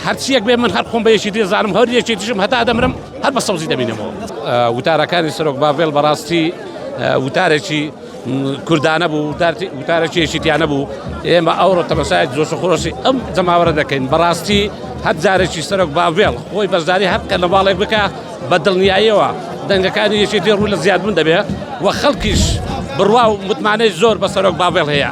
هەرچیەک بێ من هەر خۆم بە یەکێتی دەزانم هەر یەکێتیشم هەتا دەمرم هەر بە سەوزی دەمینەوە وتارەکانی سەرۆک باڤێل بەڕاستی وتارێکی کوردانە بوو وتارێکی یەکێتیانە بوو ئێمە ئەوڕۆ تەمەسای جۆش خۆشی ئەم جەماوەرە دەکەین بەڕاستی هەر جارێکی سەرۆک باڤێڵ خۆی بەشداری هەر کە نەواڵێک بکە بە دڵنیاییەوە دەنگەکانی یەکێتی ڕوو لە زیادبوون دەبێت و خەڵکیش بڕوا و متمانەی زۆر بە سەرۆک باڤێڵ هەیە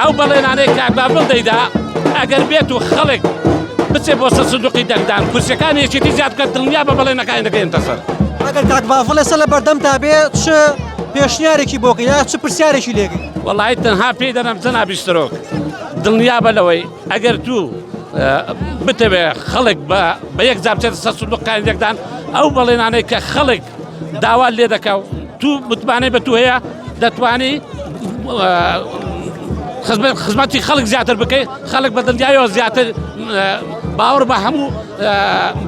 ئەو بەڵێنانەی کاک بابل دەیدا ئەگەر بێت و خەڵک بچێ بۆ سەر سندوقی دەنگدان کورسەکانی یەکێتی زیاد بکەن دڵنیا بە بەڵێنەکانی دەگەێنتە سەر ئەگەر کاک بافڵ لەسە لە بەردەم تا بێ چ پێشنیارێکی بۆکە یا چ پرسیارێکی لێگەی وڵی تەنها پێی دەنم جەنا بیسترۆک دڵنیا بە لەوەی ئەگەر تو بتەوێ خەڵک بە بە یەک جابچێت سەر سندوقکان یەکدان ئەو بەڵێنانەی کە خەڵک داوات لێ دەکا و تو متمانەی بە تو هەیە دەتوانی خزمەتی خەڵک زیاتر بکەیت خەڵک بە دڵنیایەوە زیاتر باوەڕ بە هەموو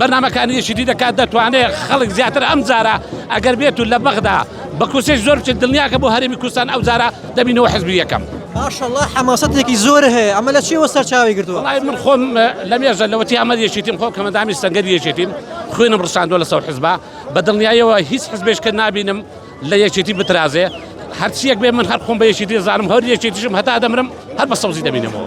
بەنامەکانی یەشیدی دەکات دەتوانێت خەڵک زیاتر ئەم جارە ئەگەر بێت و لە بەغدا بە کورسێک زۆر بچێت دڵنیاکە بۆ هەرێمی کوردستان ئەو جارە دەبینەوە حزبی یەکەم ماشەڵڵا حەماسەتێکی زۆر هەیە ئەمە لە چیەوە سەرچاوی گرتووە وڵای من خۆم لە مێژە لەوەتی ئەمە یەشیتیم خۆ کەمەدامی سەنگەر یەشێتیم خوێنم ڕشاندووە لە سەو حزبا بە دڵنیایەوە هیچ حزبێشکە نابینم لە یەکێتی بترازێ هەرچیەک بێ من هەر خۆم بە یەکێتی دەزانم هەر یەکێتیشم هەتا دەمرم هەر بە سەوزی دەبینمەوە.